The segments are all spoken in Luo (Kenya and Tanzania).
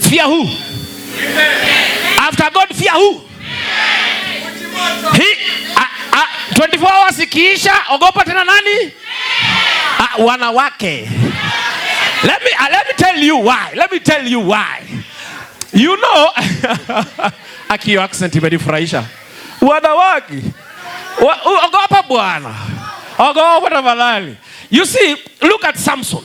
Fear who? After God fear who? He, a, a, 24 hours ikiisha, ogopa tena nani? A, ah, wanawake. Let me, uh, let me tell you why. Let me tell you why. You know, aki accent imenifurahisha. Wanawake. Ogopa bwana. Ogopa tafadhali. You see, look at Samson.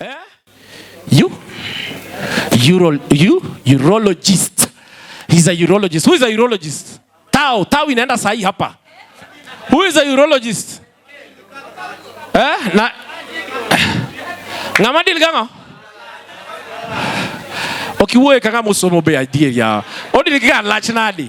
eh? you Euro, you urologist he's a urologist who is a urologist tao tao inaenda sahi hapa who is a urologist eh na ngama dil ganga okiwuoye kaka musomo be adier ya odil ga lach nadi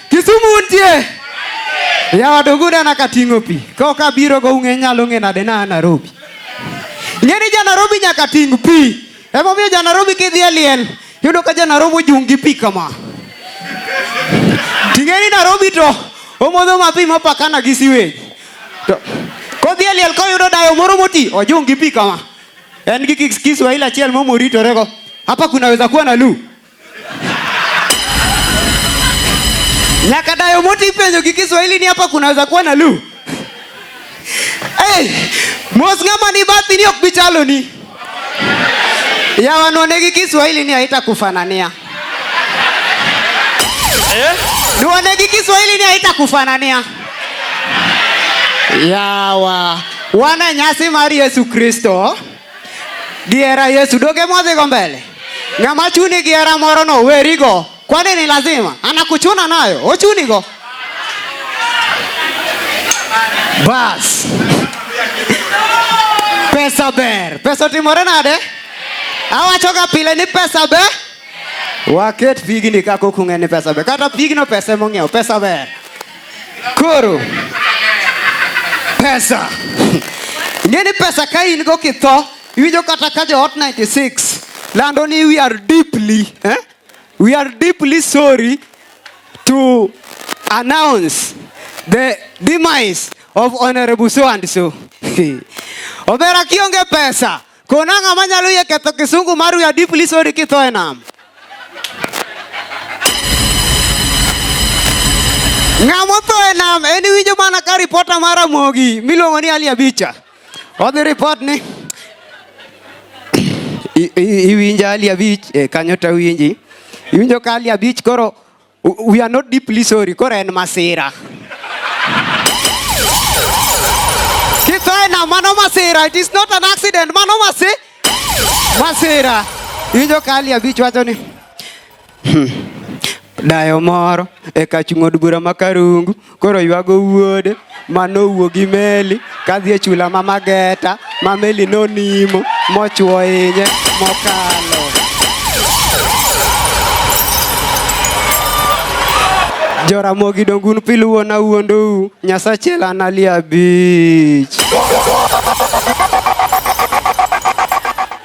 Kisumu untie? Yawa donge unena ka ting'o pi? Kaok abiro go ung'e nyalo ng'e nade na Nairobi? Ng'e ni ja Nairobi nyaka ting' pi. Emomiyo ja Nairobi kidhi e liel, yudo ka ja Nairobi ojung' gi pi kama. Ting'e ni Nairobi to omodho ma pi mopakana gi siwej. To kodhi e liel koyudo dayo moro moti, ojung' gi pi kama. En gi kis- Kiswahili achiel momo ritorego. Hapa kunaweza kuwa na lu. Nyaka dayo moti ipenjo gi Kiswahili ni hapa kunaweza kuwa na lu. Hey, mos ng'ama ni bathi ni ok bichalo ni. Ya wanone gi Kiswahili ni haita kufanania. Eh? Nione gi Kiswahili ni haita kufanania. Yawa. Wana nyasi mari Yesu Kristo. Gihera Yesu doge mwadhigo mbele. Ng'ama chuni gihera moro no werigo. Kwani ni lazima anakuchuna nayo ochunigo. Bas. Pesa ber. Pesa otimore nade? Awachoga pile ni pesa ber. Waket pigni kako kung'e ni pesa ber. Kata pigno pesa emong'iewo pesa ber. Koro pesa ing'e ni pesa ka in go kitho iwinjo kata ka joot 96 lando ni we are deeply eh? we are deeply sorry to announce the demise of honorable so and so omera kionge pesa Kona ng'a manyalo yie ketho kisungu mar we are deeply sorry kitho e nam. Ng'a motho e nam en winjo mana ka ripota mar Ramogi miluongo ni Ali Abicha. Odhi ripot ni iwinjo Ali Abich e kanyo to winji. Iwinjo ka Ali Abich koro We are not deeply sorry. Kora en masira. Kithaina mano masira. It is not an accident. Mano masi. Masira. Ijo kali abich wacho ni. Hmm. Dayo moro e kach ng'od bura ma Karungu koro ywago wuode ma nowuo gi meli kadhi e chula ma Mageta ma meli nonimo mochwo inye mokalo. Joramogi dongun piluwo na wuondou Nyasache lanalia beach.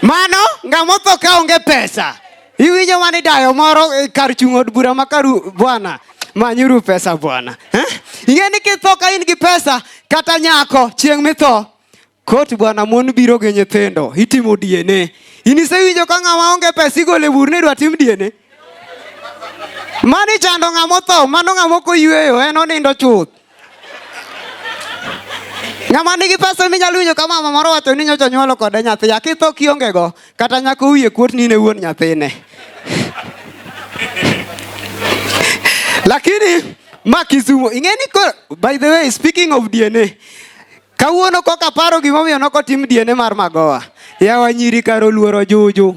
Mano ng'amotho ka onge pesa Iwinjo mane dayo moro e kar chung' od bura ma karu bwana manyuru pesa bwana. Eh? Ing'e ni kitho ka in gi pesa kata nyako chieng' mitho kot bwana mon biro gi nyithindo itimo DNA. In isewinjo ka ng'ama onge pesa igole bur ni idwa tim DNA. Mani chando ng'ama otho, mano ng'ama ok oyueyo, en onindo chuth. Ng'ama nigi pesa ni nyalo winjo kama mama moro wacho ni nyocha nyuolo kode nyathi. Akitho kionge go kata nyako wiye kuot ni ne wuon nyathine. Lakini ma Kisumo ing'e ni koro by the way speaking of DNA kawuono koka paro gimomiyo nokotim DNA mar Magowa. Yawa nyiri karo luoro juju.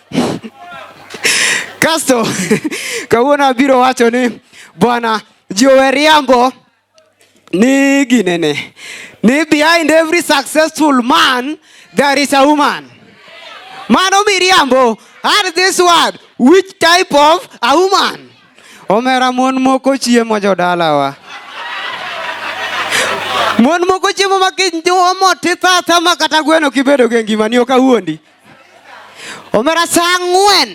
Kasto kawuono abiro wacho ni bwana Joe Riambo ni ginene ni behind every successful man there is a woman. Mano miriambo add this word which type of a woman. Omera mon moko chiemo jodalawa. Mon moko chiemo ma kinjwo motitata ma kata gweno kibedo gi ngima ni ok awuondi. omera saa ang'wen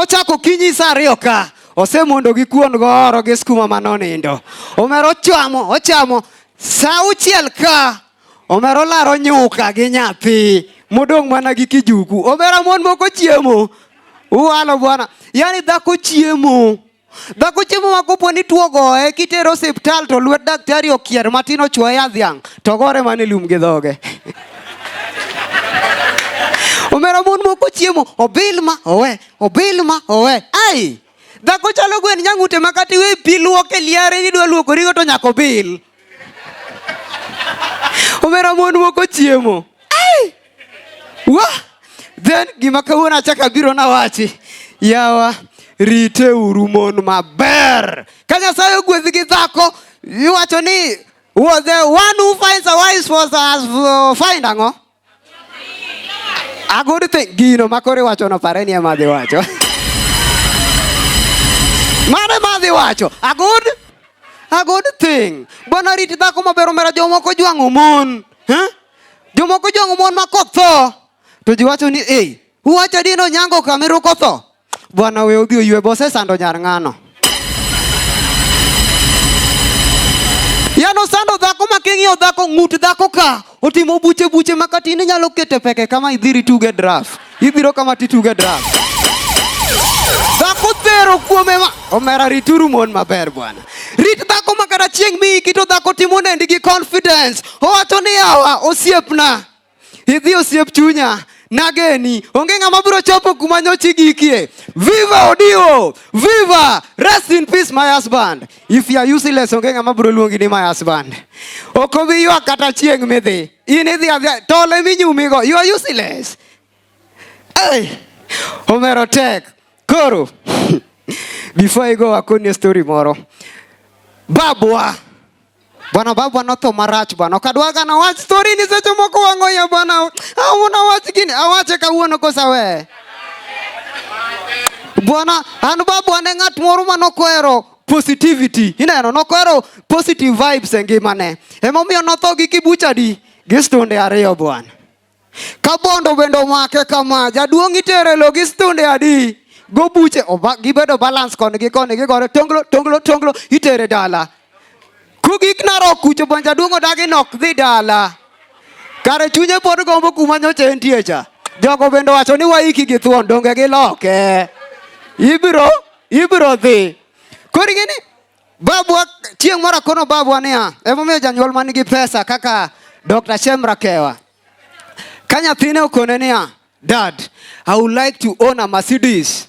ochako kinyi saa ariyo ka osemondo gi kuon gooro gi skuma ma nonindo omera ochamo ochamo saa uchiel ka omera olaro nyuka gi nyathi modong' mana gi kijuku omera mon moko chiemo uwalo bwana yani dhako chiemo Dhako chiemo ma kopo ni tuo goye kitero osiptal to lwet daktari okier matin ochuoye yadh dhiang' to gore mana e lum gi dhoge. Omera mon moko chiemo obil ma owe obil ma owe ai dhako chalo gwen nyang'ute ma kata iwe pi luok e liare nidwa luokorigo to nyaka obil. Omera mon moko chiemo ai wa then gima kawuono achako abiro nawachi yawa riteuru mon maber ka nyasaye ogwedh gi dhako iwacho ni was the one who finds a wife was as uh, find ang'o a good thing gino ma koro iwachono pare ni ema dhi wacho mano ema dhi wacho a good a good thing bwana riti dhako maber omera jomoko jwang'o mon huh? Jomoko jong'o mon ma kok tho to ji wacho ni ei uwacho adi ni onyango kameru kotho bwana we odhi oywe bose sando nyar ng'ano yano sando dhako ma king'iyo dhako ng'ut dhako ka otimo buche buche ma kata in inyalo kete peke kama idhiri tuge draft ibiro kama tituge drum. Dhako thero kuome ma omera rituru mon maber bwana. Rit dhako ma kata chieng' mi kito dhako timo nendi gi confidence. Owacho ni yawa osiepna. Idhi osiep chunya. Nageni, onge ng'ama biro chopo kuma nyochi gikie. Viva Odio! Viva! Rest in peace my husband. If you are useless, onge ng'ama biro luongi ni my husband. Ok obi ywak kata chieng' midhi. In idhi adhiya, tol emi nyumigo, you are useless. Hey, omero tek. Koro, before I go akoni story moro. Babwa Bwana baba notho marach bwana. Okadwaga na wach story ni seche moko wango ya bwana. Au ah, na wach gini awache kawuono kosa we. Bwana an babu ane ng'at moro ma nokwero positivity. Ineno nokwero positive vibes e ngimane. Emomiyo notho gi kibuchadi gi stunde ariyo bwana. Ka bondo bende omake kama, jaduong' itere lo gi stunde adi? Go buche, gibedo balance koni gi koni, gigore tonglo, tonglo, tonglo, itere dala. Kugik narok kucho bon jaduong' odagi nok dhi dala. Kare chunye pod gombo kuma nyocha entie cha. Jogo bende wacho ni waiki gi thuon, donge giloke. Ibiro, ibiro dhi. Koro ing'e ni Babwa chieng' moro akono babwa niya, emomiyo janyuol man gi pesa kaka Dr. Shem Rakewa. Ka nyathine okone niya, Dad, I would like to own a Mercedes.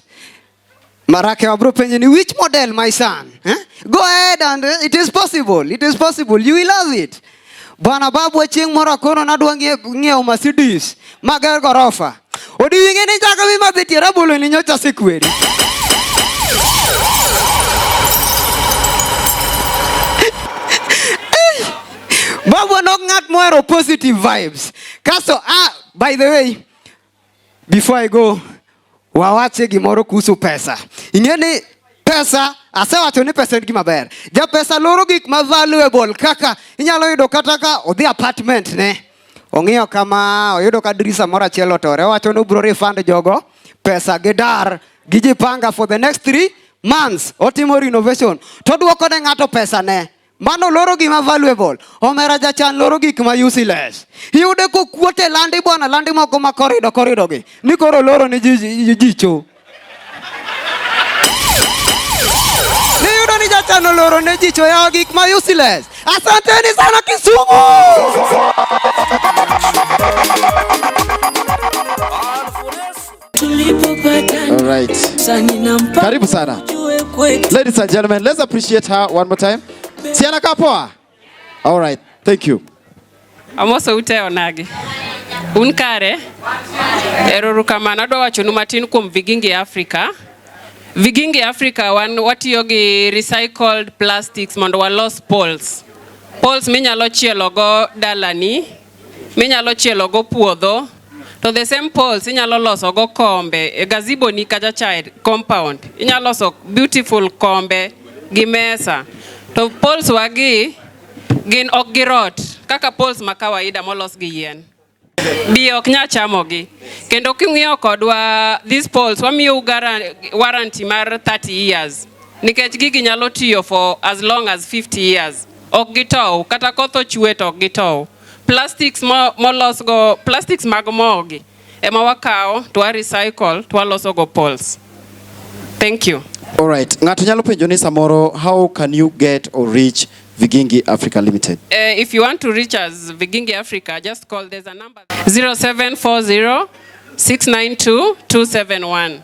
Marakewa bro penje ni which model my son? Eh? Go ahead and eh, it is possible. It is possible. You will love it. Bwana babu chieng' moro akono nadwa ng'iewo Mercedes mager gorofa. Odiwinge ni chaka wi madhi tie rabolo ni nyocha sikweri. Babu nok ng'at mohero positive vibes. Kaso, ah, by the way, Before I go, wawache gimoro kuhusu pesa. Ing'e ni pesa asewacho ni pesa en gima ber. Ja pesa loro gik ma valuable kaka inyalo yudo kata ka odhi apartment ne. Ong'iyo kama oyudo ka dirisa moro achiel otore, owacho ni obro refund jogo pesa gi dar gi jipanga for the next three months otimo renovation to duoko ne ng'ato pesa ne Mano loro gima valuable. Omera jachan loro gik ma useless. Iyude kokuot e landi bwana, landi moko ma korido korido gi. Ni koro loro ni ji- ji- jicho. Niyudo ni jachan oloro ne jicho yawo gik ma useless. Asanteni sana Kisumu. All right. Karibu sana. Ladies and gentlemen, let's appreciate her one more time. Siana Kapoa. All right. Thank you. Amoso ute onagi. Un kare. Erorukamano adwa wachonu matin kuom Vigingi Africa. Vigingi Africa wan watiyo gi recycled plastics mondo walos poles. Poles minyalo chielo go dalani minyalo chielogo puodho to the same poles inyalo loso go kombe e gazebo ni kacha cha compound inyalo loso beautiful kombe gi mesa to poles wagi gin ok gi rot kaka poles ma kawaida molos gi yien bi ok nya chamogi kendo king'iyo kodwa these poles wamiyo warranty mar 30 years nikech gigi nyalo tiyo for as long as 50 years ok gitow kata koth ochwe to ok gitow. Plastics molos go plastics mag mogi ema wakawo to wa recycle to waloso go poles. Thank you. All right. Ng'ato nyalo penjo ni samoro how can you get or reach Vigingi Africa Limited? Uh, if you want to reach us Vigingi Africa just call there's a number 0740 692 271.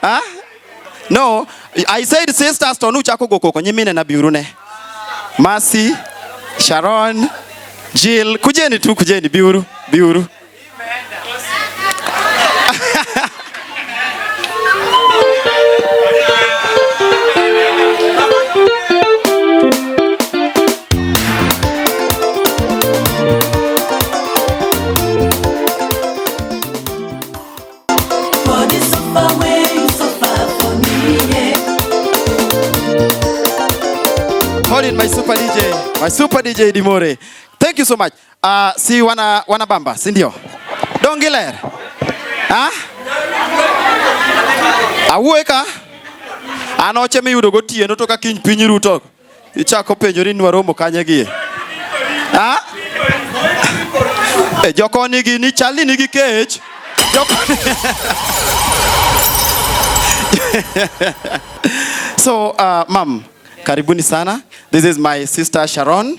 Huh? No, I said sisters to nuchako go koko nyimine na biurune. Mercy, Sharon, Jill, kujeni tu kujeni biuru, biuru. For the suffer wey you suffer for me, yeah. Call in my super DJ, my super DJ Dimore. Thank you so much. Uh, si wana wana bamba, si ndio? Dongiler. Ah? Awueka. Anoche miyudo gotieno to ka kiny piny ruto. Ichako penjori ni waromo kanye gie? Ha? E jokoni gini chal ni nigi kech. Jokoni. so uh, mam karibuni sana this is my sister sharon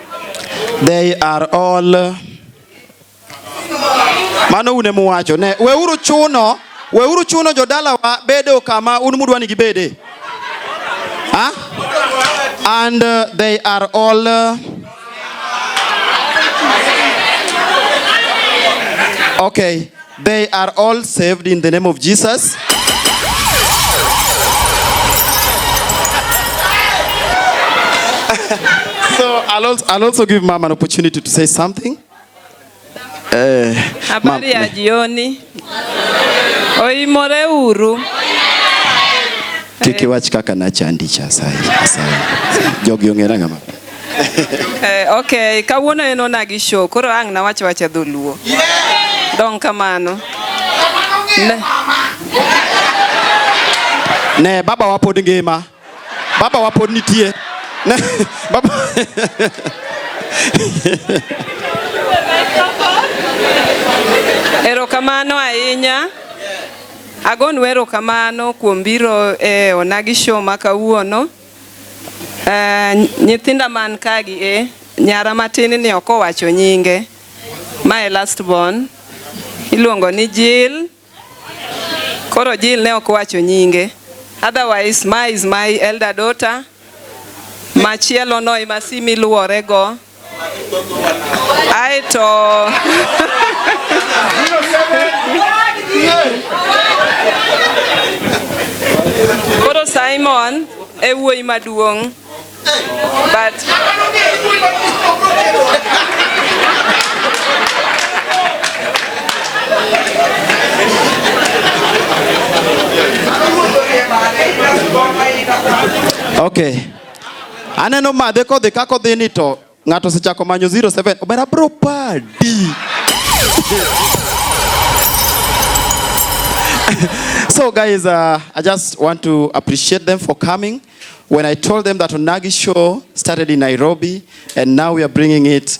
They are all mano une muwacho ne weuru chuno weuru chuno jodalawa bedo kama un mudwa ni gibede huh? and uh, they are all uh, okay They are all saved in the name of Jesus. so I'll also, I'll also give mom an opportunity to say something. Eh, habari ya jioni. Oimore uru. Kiki wach kaka nachandi cha sai. Sai. Jogi ongera ngama. eh, okay, kawuono en ona gi show koro ang' nawach wacha dholuo yeah. dong kamano ne, ne baba wapod ngima baba wapod nitie ne, baba erokamano ahinya agon wero kamano kuom biro e onagi show ma kawuono Uh, nyithinda man kagi e eh, nyara matin ni ok owacho nyinge mae last born iluongo ni Jill koro Jill ne ok owacho nyinge otherwise my is my elder daughter machielo no imasimi luwore go Aeto koro Simon e wuoyi maduong' but Okay. Aneno madhe kodhi kako dhi ni to ng'ato osechako manyo 07 obera bro padi. so guys, uh, I just want to appreciate them for coming. When I told them that Onagi show started in Nairobi and now we are bringing it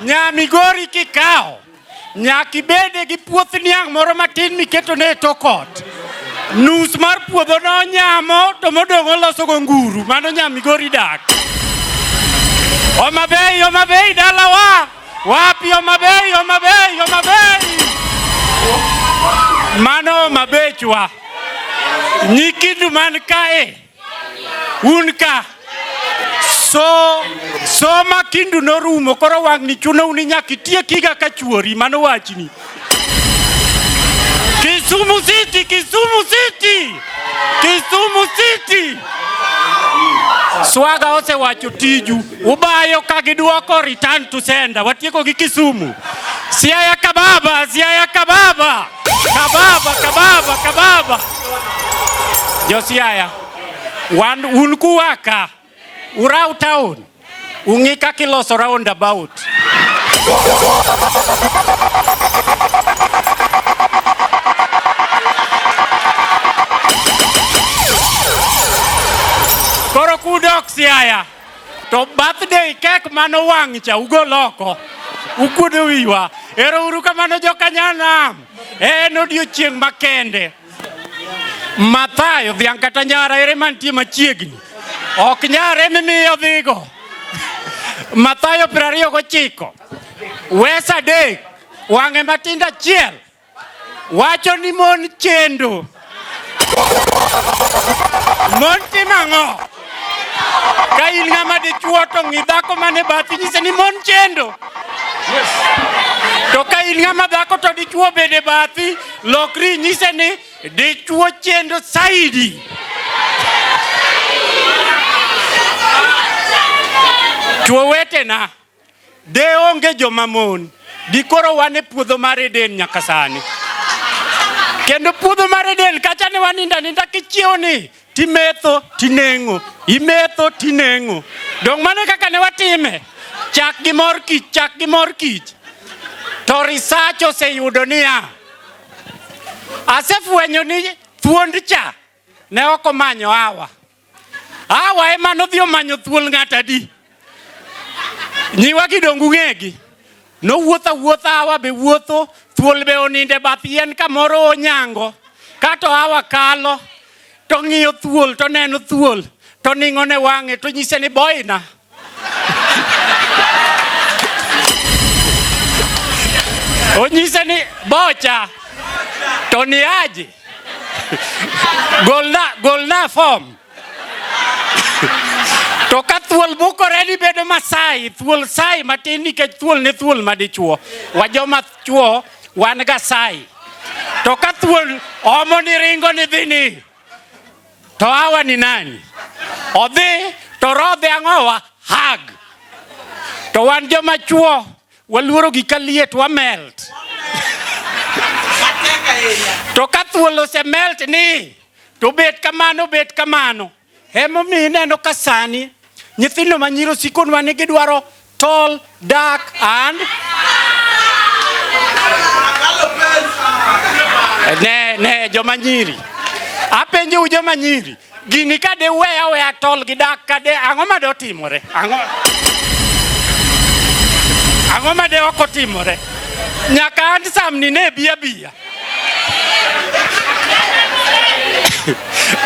Nya Migori kikawo nyaka ibede gi puoth niang' moro matin miketone e tok ot. Nus mar puodhono onyamo to modong' olosogo nguru. Mano nya Migori dak. Homa Bay, Homa Bay dalawa. Wapi Homa Bay, Homa Bay, Homa Bay. Mano Homa Bay chwa. Nyikindu man kae. Un ka. So, soma kindu norumo koro wang'ni chuno uni nyaka itiekiga ka chuori mano wachni. Kisumu City, Kisumu City, Kisumu City. Swaga osewacho tiju, ubayo ka gidwoko return to sender. Watieko gi Kisumu. Siaya Kababa, Siaya Kababa. Kababa, kababa, kababa. Josiaya, wan un kuwaka urau town ung'i kaka iloso round about. Koro kudok Siaya. To birthday kek mano wang' cha ugol oko. Ukuodo wiwa. Ero uru kamano jokanyanam. En odiochieng' makende. Mathayo dhiang' kata nyara ere mantie machiegni. Ok nyara emi miyo dhigo. Mathayo piero ariyo gochiko. Wes adek. Wang'e matindo achiel. wacho ni mon chendo. Mon timo ang'o? Ka in ng'ama dichuo to ng'i dhako mane bathi nyise ni mon chendo. To ka in ng'ama dhako to dichuo bende bathi, lokri nyise ni dichuo chendo saidi. Chuo wetena. De onge joma mon, dikoro wan e puodho mar Eden nyaka sani. Kendo puodho mar Eden kacha ne waninda ninda kichiewo ni timetho tineng'o, imetho tineng'o. Dong' mano kaka ne watime, chak gi mor kich, chak gi mor kich. To research oseyudo niya, asefwenyo ni thuond cha ne ok omanyo hawa. Awa ema nodhi omanyo thuol ng'at adi? Nyiwa gi dongu ng'egi. Nowuotho awuotha awa be wuotho, thuol be oninde bath yien kamoro onyango. Kato awa kalo, to ng'iyo thuol, to neno thuol, to ning'o ne wang'e, to nyise ni boina. Onyise ni bocha to ni aje golna, golna form to ka thuol bukore ni bedo Masai, thuol sai matin nikech thuol ne thuol madichuo. Wajoma chuo wan ga sai. To ka thuol omo ni ringo ni dhini To hawa ni nani? Odhi to rodhe ang'owa hag. To wan joma chuo waluoro gi kaliet wa melt. To ka thuol ose melt ni to bet kamano bet kamano. Emomiyo ineno ka sani nyithindo ma nyiri osikonwa ni gidwaro tall, dark and ne ne joma nyiri apenjou joma nyiri gini ka de weya weya tol gi dak ka de ang'o ma de otimore ang'o ang'o ma de ok otimore nyaka an samni ne bi abiya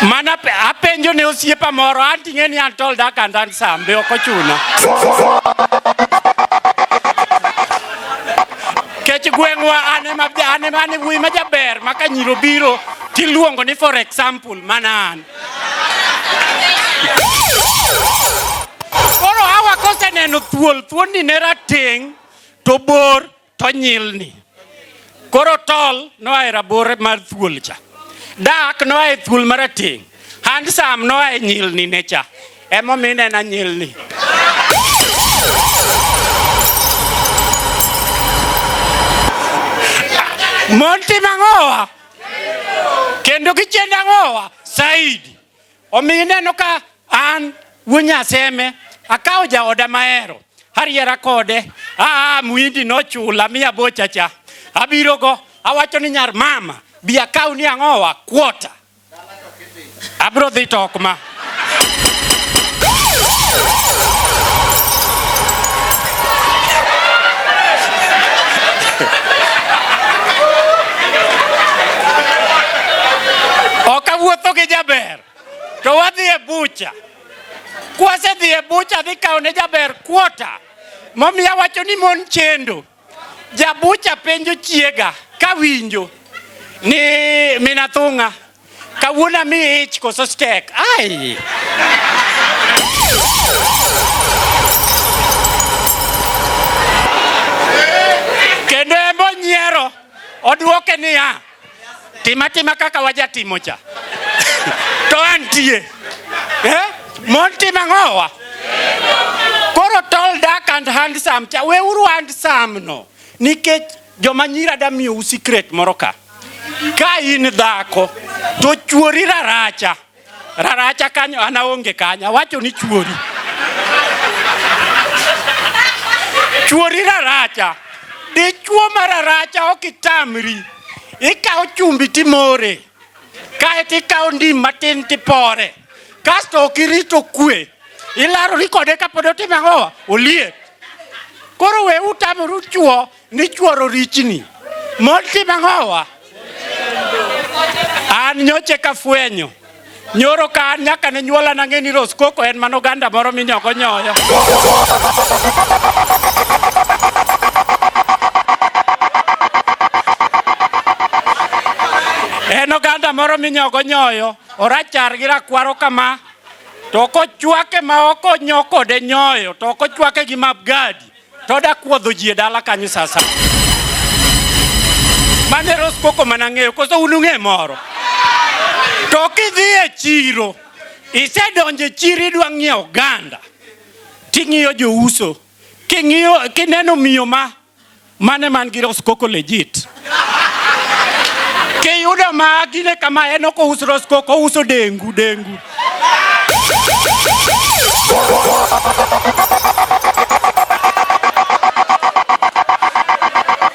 mana apenjo ne osiepa moro anting'e ni an tol dak and an sambe ok ochuna kech gweng'wa anemane wuoyi ma jaber ma ka nyiro biro tiluongo ni for example mana an koro hawa koseneno thuol thuonni ne rateng' to bor to nyilni. Koro tol noa e rabor mar thuol cha, dak noa e thuol marateng', handsome noa e nyilni ne cha. Emomiyo inena nyilni. Mon timo ang'owa kendo gichendo ang'owa saidi Omiyo ineno ka an wuo Nyaseme akawo jaoda mahero ariera kode aa ah, muindi nochula mi abocha cha abirogo awacho ni nyar mama bi akaw ni ang'owa kuota abro dhi to ok ma Okawuotho gi jaber to wadhi e bucha. Kwasedhi e bucha dhi kawo ne jaber kuota momiya wacho ni mon chendo. Jabucha penjo chiega kawinjo ni minathung'a Kawuono mi ich koso stek. Ai. Kendo embo nyiero odwoke niya, tima tima kaka wajatimo cha. to antie. Eh? Mon tima ng'owa. Koro tall, dark and handsome cha. Weuru handsome no. Nikech Joma nyira da miyo u secret moro ka. Ka in dhako to chuori raracha. Raracha kanyo ana onge kanyo. Awacho ni chuori. Chuori raracha. Dichuo ma raracha ok itamri. Ikawo chumbi timore. Kae to ikawo ndim matin tipore. Kasto ok irito kwe. Ilarori kode kapod otimo ang'owa? Oliet. Koro we utamoru chuo Ni chworo richni. Moti mang'owa. An nyoche ka fwenyo. Nyoro ka an nyaka ne nyuola na ng'e ni Roskoko en mano ganda moro minyoko nyoyo. En oganda moro minyogo nyoyo, orachar gi rakwaro kama, to kochwake ma ok onyo kode nyoyo, to ok ochwake gi mapgadi. to da kuodho ji e dala kanyo sasa. Mane Rose Coco mana ng'eyo koso un ung'e moro. To kidhi e chiro isedonjo e chiro idwa ng'iewo oganda ting'iyo jouso king'iyo kineno miyo ma mane man gi Rose Coco legit Kiyudo ma gine kama en ok ouso roskoko, ouso dengu dengu.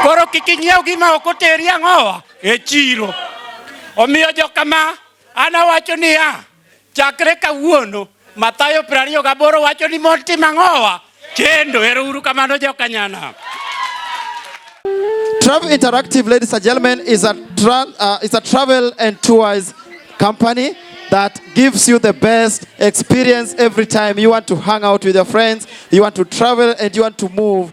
Koro kik inyiew gima ok oteri ang'owa e chiro. Omiyo jokama, an awacho niya, Chakre kawuono, Mathayo 28 wacho ni mond tim ang'owa? Kendo ero uru kamano jokanyana. Trav Interactive, ladies and gentlemen, is a, tra uh, is a travel and tours company that gives you the best experience every time you want to hang out with your friends, you want to travel, and you want to move.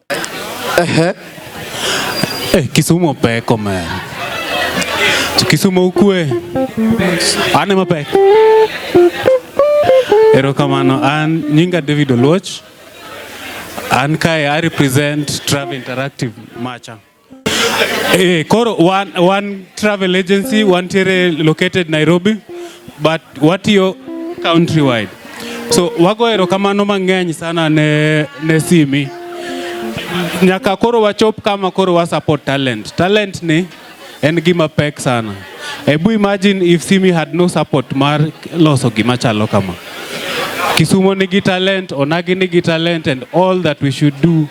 Ehe. Eh, Kisumu opeko man. Kisumu ukwe. Ane mapek. Erokamano, an nyinga David Oluoch. An kae I represent Trav Interactive Macha. Eh, koro wan, wan travel agency wantiere located Nairobi but watiyo countrywide so wago erokamano mang'eny sana ne, ne simi nyaka koro wachop kama koro wa support talent talent ni en gima pek sana ebu imagine if simi had no support mar loso gima chalo kama kisumo nigi talent onagi nigi talent and all that we should do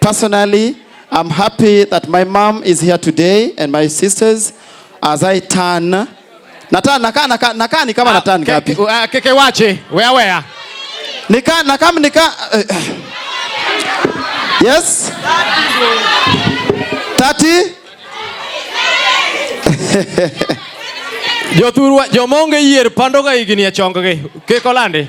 Personally, I'm happy that my mom is here today and my sisters as I turn. Nata, naka, naka, naka, ni kama ah, nata ngapi? Ah, keke wache, wea wea. Nika, naka, nika. Uh, yes? 30? Jothurwa, jomonge yier pandoga igini achonggi. Kiko landi?